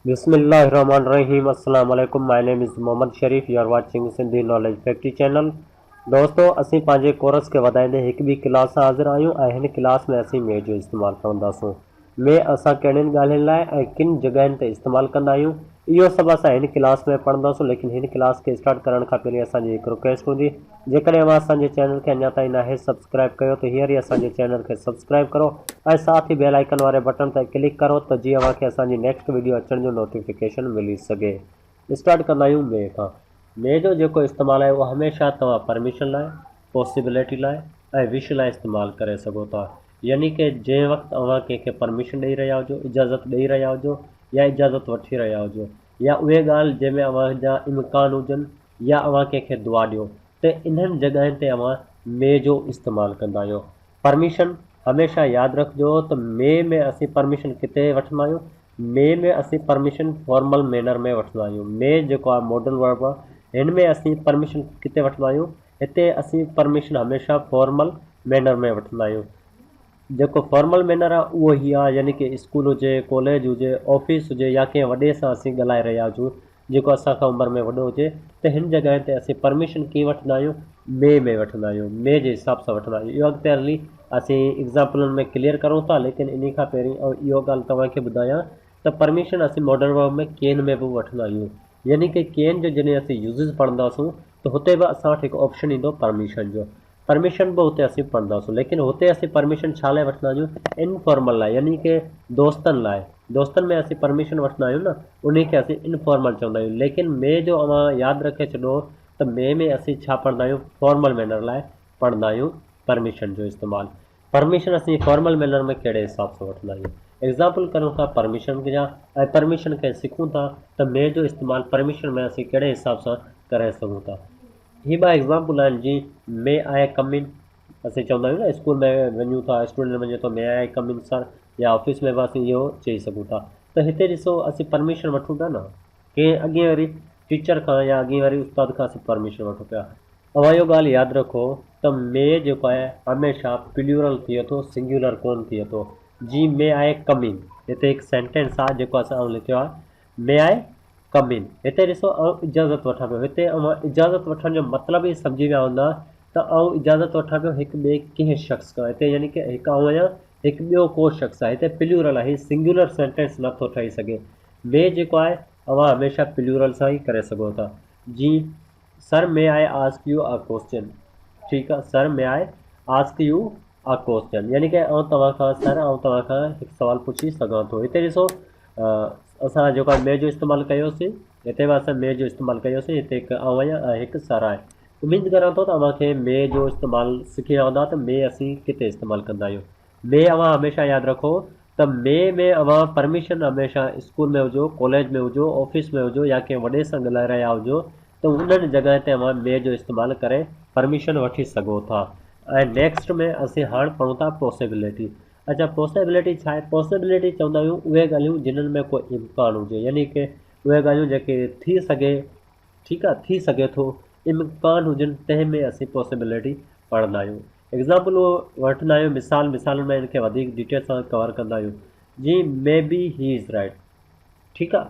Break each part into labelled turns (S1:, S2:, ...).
S1: بسم الله الرحمن الرحيم السلام عليڪم my name is Muhammad Sharif you are watching Sindhi knowledge factory channel دوستو اسين پنهنجي ڪورس کي وڌائيندي هڪ ٻي ڪلاس سان حاضر آهيون ۽ هن ڪلاس ۾ اسين مي جو استعمال کڻنداسون. مي اسان ڪهڙين ڳالهين لاء ۽ ڪن جڳهين تي استعمال ڪندا آهيون اهو سڀ اسان هن ڪلاس ۾ پڙهنداسون ليڪن هن ڪلاس کي اسٽارٽ ڪرڻ کان پهرين اسان جي هڪ رڪويسٽ هوندي جيڪڏهن اوهان اسان جي چينل کي اڃا تائين ناهي سبسڪرائب ڪيو ته هينئر ئي اسان جي چينل کي سبسڪرائب ڪرو ۽ ساٿ ئي بيل آئيڪن واري بٽڻ تي ڪلڪ ڪرو ته جيئن اوهان کي اسان جي نيڪسٽ وڊيو اچڻ جو نوٽيفڪيشن ملي سگهي. اسٽارٽ ڪندا آهيون مي کان. مي جو جيڪو استعمال آهي اهو هميشه توهان پرميشن لاء، پاسيبلٽي لاء ۽ وش لاء استعمال ڪري سگهو ٿا. يعني ڪه جنهن وقت اوهان ڪنهن کي پرميشن ڏئي رهيا هجو، اجازت ڏئي رهيا هجو يا اجازت وٺي رهيا هجو يا اهي ڳالهه جنهن ۾ اوهان جا امڪان هجن يا اوهان ڪنهن کي دعا ڏيو ته انهن جڳهين تي اوهان مي جو استعمال ڪندا آهيو. پرميشن، هميشه ياد رکجو ته مئي ۾ اسين پرميشن ڪٿي وٺندا آهيون، مئي ۾ اسين پرميشن فارمل مينر ۾ وٺندا آهيون، مئي جيڪو آهي ماڊل ورب آهي، هن ۾ اسين پرميشن ڪٿي وٺندا آهيون، هتي اسين پرميشن هميشه فارمل مينر ۾ وٺندا آهيون، جيڪو فارمل مينر آهي اهو هي آهي يعني ڪي اسڪول هجي، ڪاليج هجي، آفيس هجي يا ڪنهن وڏي سان اسين ڳالهائي رهيا هجون جيڪو اسان کان عمر ۾ وڏو هجي ته هن جڳهين تي اسين پرميشن ڪيئن وٺندا آهيون مي ۾ وٺندا آهيون مي جي حساب سان وٺندا آهيون اهو اڳتي هلي اسين ايگزامپلن ۾ ڪليئر ڪرون ٿا ليڪن انهي کان پهرين آئون اهو ڳالهه توهان کي ٻڌايان ته پرميشن اسين ماڊرن ورب ۾ ڪين ۾ به وٺندا آهيون يعني ڪي ڪين جو جڏهن اسين يوزز پڙهنداسون ته هتي به اسان وٽ هڪ آپشن ايندو پرميشن جو پرميشن به هتي اسين پڙهنداسون ليڪن هتي اسين پرميشن ڇا لاء وٺندا آهيون انفارمل لاء يعني ڪي دوستن لاء دوستن ۾ اسين پرميشن وٺندا آهيون نه انهي کي اسين انفارمل چوندا آهيون ليڪن مي جو اوهان ياد رکي ڇڏو ته مي ۾ اسين ڇا پڙهندا آهيون فارمل مينر لاء پڙهندا آهيون پرميشن جو استعمال پرميشن اسين فارمل مينر ۾ ڪهڙي حساب سان وٺندا آهيون ايگزامپل ڪريون ٿا پرميشن جا ۽ پرميشن کي سکون ٿا ته مي جو استعمال پرميشن ۾ اسين ڪهڙي حساب سان ڪري سگهون ٿا هي ٻه ايگزامپل آهن جي مي آء ڪم ان اسين چوندا آهيون نه اسڪول ۾ وڃون ٿا اسٽوڊنٽ وڃي ٿو مي آء ڪم ان سر يا آفيس ۾ به اسين اهو چئي سگهون ٿا ته هتي ڏسو اسين پرميشن وٺون ٿا نه ڪنهن اڳين وري ٽيچر کان يا اڳين وري استاد کان اسين پرميشن وٺون پيا اوهان اهو ڳالهه ياد رکو ته مي جيڪو آهي هميشه پليورل ٿئي ٿو سنگيولر ڪونه ٿئي ٿو جي مي آء ڪم ان هتي هڪ سينٽينس آهي جيڪو اسان آئون لکيو آهي May I come in؟ هتي ڏسو آئون اجازت وٺان پيو، هتي اوهان اجازت وٺڻ جو مطلب ئي سمجهي ويا هوندا ته آئون اجازت وٺان پيو هڪ ٻئي ڪنهن شخص کان، هتي يعني ڪه هڪ آئون آهيان هڪ ٻيو ڪو شخص آهي، هتي پليورل آهي سنگيولر سينٽينس نه ٿو ٺهي سگهي، May جيڪو آهي اوهان هميشه پليورل سان ئي ڪري سگهو ٿا، جي sir may I ask you a question ٺيڪ آ sir may I ask you a question يعني ڪه آئون توهان کان سر آئون توهان کان هڪ سوال پڇي سگهان ٿو هتي ڏسو اسان جيڪو مي جو استعمال ڪيوسين هتي به اسان مي جو استعمال ڪيوسين هتي هڪ آئون آهيان ۽ هڪ سر آهي اميد ڪريان ٿو ته اوهان کي مي جو استعمال سکي ويا هوندا ته مي اسين ڪٿي استعمال ڪندا آهيون مي اوهان هميشه ياد رکو ته مي ۾ اوهان پرميشن هميشه اسڪول ۾ هجو ڪاليج ۾ هجو آفيس ۾ هجو يا ڪنهن وڏي سان ڳلهائي رهيا هجو ته انهن جڳهين تي اوهان مي جو استعمال ڪري پرميشن وٺي سگهو ٿا ۽ نيڪسٽ ۾ اسين هاڻ پڙهون ٿا پوسيبليٽي اڇا پوسيبليٽي ڇا آهي پوسيبليٽي چوندا آهيون اهي ڳالهيون جنهن ۾ ڪو امڪان هجي يعني ڪي اهي ڳالهيون جيڪي ٿي سگهي ٺيڪ آ ٿي سگهي ٿو امڪان هجن تنهن ۾ اسين پاسيبلٽي پڙهندا آهيون ايگزامپل وٺندا آهيون مثال مثالن مان ان کي وڌيڪ ڊيٽيل سان ڪور ڪندا آهيون جي مي بي هي از رائٽ ٺيڪ آ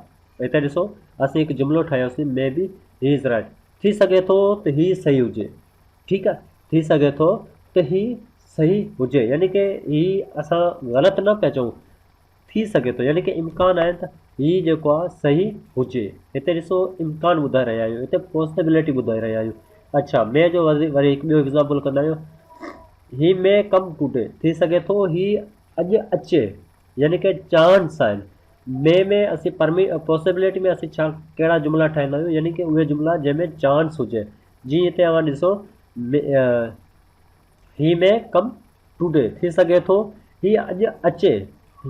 S1: هتي ڏسو اسين هڪ جملو ٺاهيوسين مي بي هي از رائٽ ٿي سگهي ٿو ته هي صحيح هجي ٺيڪ آ ٿي سگهي ٿو ته هي صحيح هجي يعني ڪي هي اسان غلط نه پيا چئون ٿي سگهي ٿو يعني ڪي امڪان آهن ته هي جيڪو آهي صحيح هجي هتي ڏسو امڪان ٻڌائي رهيا آهيون هتي پوسبلٽي ٻڌائي رهيا آهيون اڇا مي جو وري وري هڪ ٻيو ايگزامپل ڪندا آهيون هي مي ڪم ٽوڊي ٿي سگهي ٿو هي اڄ اچي يعني ڪي چانس آهن مي ۾ اسين پرمي پوسبلٽي ۾ اسين ڇا ڪهڙا جملا ٺاهيندا آهيون يعني ڪي اهي جملا جنهن ۾ چانس هجي جي هتي اوهان ڏسو هي مي ڪم ٽوڊي، ٿي سگهي ٿو هي اڄ اچي،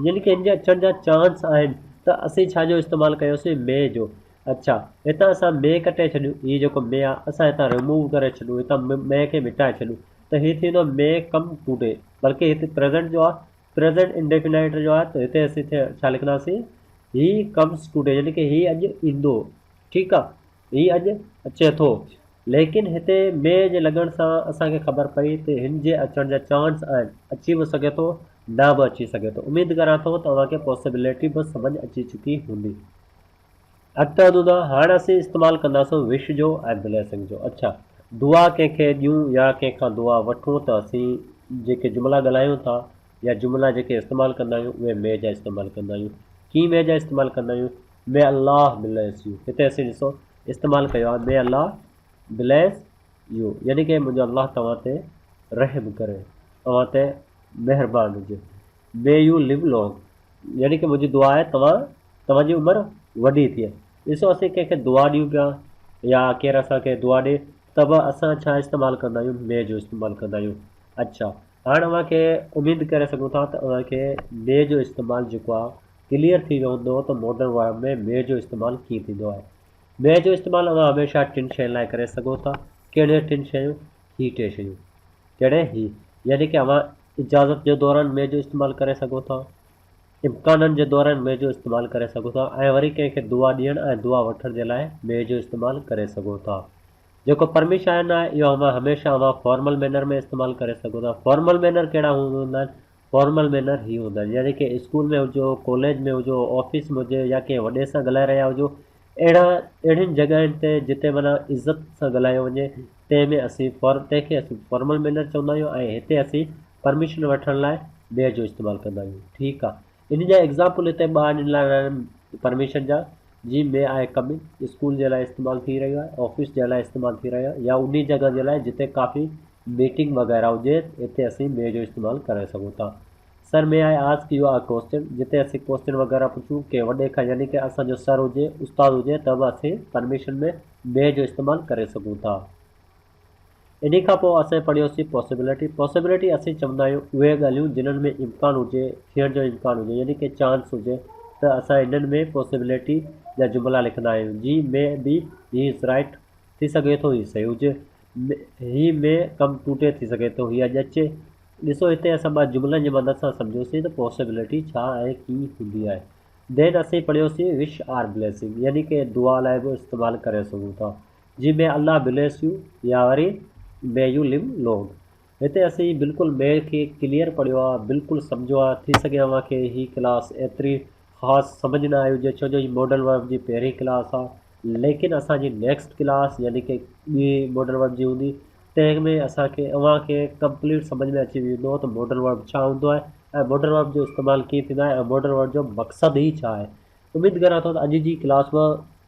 S1: يعني ڪنهن جي اچڻ جا چانس آهن، ته اسين ڇا جو استعمال ڪيوسين مي جو، اڇا هتان اسان مي ڪٽي ڇڏيون، هي جيڪو مي آهي اسان هتان ريموو ڪري ڇڏيون، هتان مي کي مٽائي ڇڏيون ته هي ٿي ويندو مي ڪم ٽوڊي، بلڪه هتي پريزنٽ جو آهي، پريزنٽ انڊيفينائيٽ جو آهي ته هتي اسين ڇا لکنداسين هي ڪمز ٽوڊي، يعني ڪي هي اڄ ايندو، ٺيڪ آهي. هي اڄ اچي ٿو. ليڪن هتي مينهن جي لڳڻ سان اسان کي خبر پئي ته هن جي اچڻ جا چانس آهن، اچي به سگهي ٿو، نه به اچي سگهي ٿو. اميد ڪريان ٿو ته اوهان کي پاسيبلٽي به سمجهه اچي چڪي هوندي. اڳتي ودون ٿا. هاڻ اسين استعمال ڪنداسون وش جو ۽ بليسنگ جو. اڇا، دعا ڪنهن کي ڏيون يا ڪنهن کان دعا وٺون ته اسين جيڪي جملا ڳالهايون ٿا يا جملا جيڪي استعمال ڪندا آهيون اهي مينهن جا استعمال ڪندا آهيون. ڪيئن مينهن جا استعمال ڪندا آهيون؟ مي الله بليس يو هتي اسين ڏسو استعمال ڪيو آهي مي الله بليس يو يعني ڪه منهنجو الله توهان تي رحم ڪري اوهان تي مهربان هجي مي يو ليو لونگ يعني ڪه منهنجي دعا آهي توهان توهان جي عمر وڏي ٿئي ڏسو اسين ڪنهن کي دعا ڏيون پيا يا ڪير اسان کي دعا ڏي ته به اسان ڇا استعمال ڪندا آهيون مي جو استعمال ڪندا آهيون اڇا هاڻ اوهان کي اميد ڪري سگهون ٿا ته اوهان کي مي جو استعمال جيڪو آهي ڪليئر ٿي ويو هوندو ته ماڊرن وارڊ ۾ مي جو استعمال ڪيئن ٿيندو آهي. مي جو استعمال اوهان هميشه ٽن شين لاء ڪري سگهو ٿا ڪهڙيون ٽن شيون هي ٽي شيون ڪهڙي هي يعني ڪي اوهان اجازت جي دوران مي جو استعمال ڪري سگهو ٿا امڪانن جي دوران مي جو استعمال ڪري سگهو ٿا ۽ وري ڪنهن کي دعا ڏيڻ ۽ دعا وٺڻ جي لاء مي جو استعمال ڪري سگهو ٿا. جيڪو پرميشائن آهي اهو اوهان هميشه اوهان فارمل مينر ۾ استعمال ڪري سگهو ٿا. فارمل مينر ڪهڙا هوند هوندا آهن؟ فارمل مينر هي هوندا آهن يعني ڪنهن اسڪول ۾ هجو، ڪاليج ۾ هجو، آفيس ۾ هجي يا ڪنهن وڏي سان ڳالهائي رهيا هجو اهڙا اهڙين جڳهين تي جتي معنيٰ عزت سان ڳالهايو وڃي تنهن ۾ اسين فار تنهن کي اسين فارمل مينر چوندا آهيون ۽ هتي اسين پرميشن وٺڻ لاء وير جو استعمال ڪندا آهيون ٺيڪ آهي. انهن جا ايگزامپل هتي ٻه آڻي ڏنا ويا آهن پرميشن جا جي مي آء ڪم ان اسڪول جي لاء استعمال ٿي رهيو آهي آفيس جي لاء استعمال ٿي رهيو آهي يا انهي جڳهه جي لاء جتي ڪافي ميٽنگ وغيره هجي اتي اسين مي جو استعمال ڪري سگهون ٿا sir may I ask you I question جتي اسين ڪوسچن وغيره پڇون ڪنهن وڏي کان يعني ڪه اسان جو سر هجي استاد هجي ته به اسين پرميشن ۾ مي جو استعمال ڪري سگهون ٿا. انهي کان پوء اسين پڙهيوسين پاسيبلٽي. پاسيبلٽي اسين چوندا آهيون اهي ڳالهيون جنهن ۾ امڪان هجي، ٿيڻ جو امڪان هجي يعني ڪي چانس هجي ته اسان انهن ۾ پاسيبلٽي جا جملا لکندا آهيون جيئن مي بي هي از رائيٽ ٿي سگهي ٿو هي صحيح هجي، هي مي ڪم ٽو ٽي ٿي سگهي ٿو هي اڄ اچي. ڏسو هتي اسان ٻه جملن جي مدد سان سمجهيوسين ته پاسيبلٽي ڇا ۽ ڪي هوندي آهي. Then اسين پڙهيوسين وش آر بليسنگ يعني ڪي دعا لاء به استعمال ڪري سگهون ٿا. جي مي الله بليس يو يا وري مي يو ليو لونگ هتي اسين بلڪل مي کي ڪليئر پڙهيو آ بلڪل سمجهو آ ٿي سگهي اوهان کي هي ڪلاس ايتري خاص سمجهه نه آئي هجي ڇو جو هي ماڊل ورب جي پهرين ڪلاس آ ليڪن اسان جي نيڪسٽ ڪلاس يعني ڪي ٻي ماڊل ورب جي هوندي تنهن ۾ اسان کي اوهان کي ڪمپليٽ سمجهه ۾ اچي ويندو ته ماڊل ورب ڇا هوندو آهي ۽ ماڊل ورب جو استعمال ڪيئن ٿيندو آهي ۽ ماڊل ورب جو مقصد هي ڇا آهي اميد ڪريان ٿو ته اڄ جي ڪلاس ۾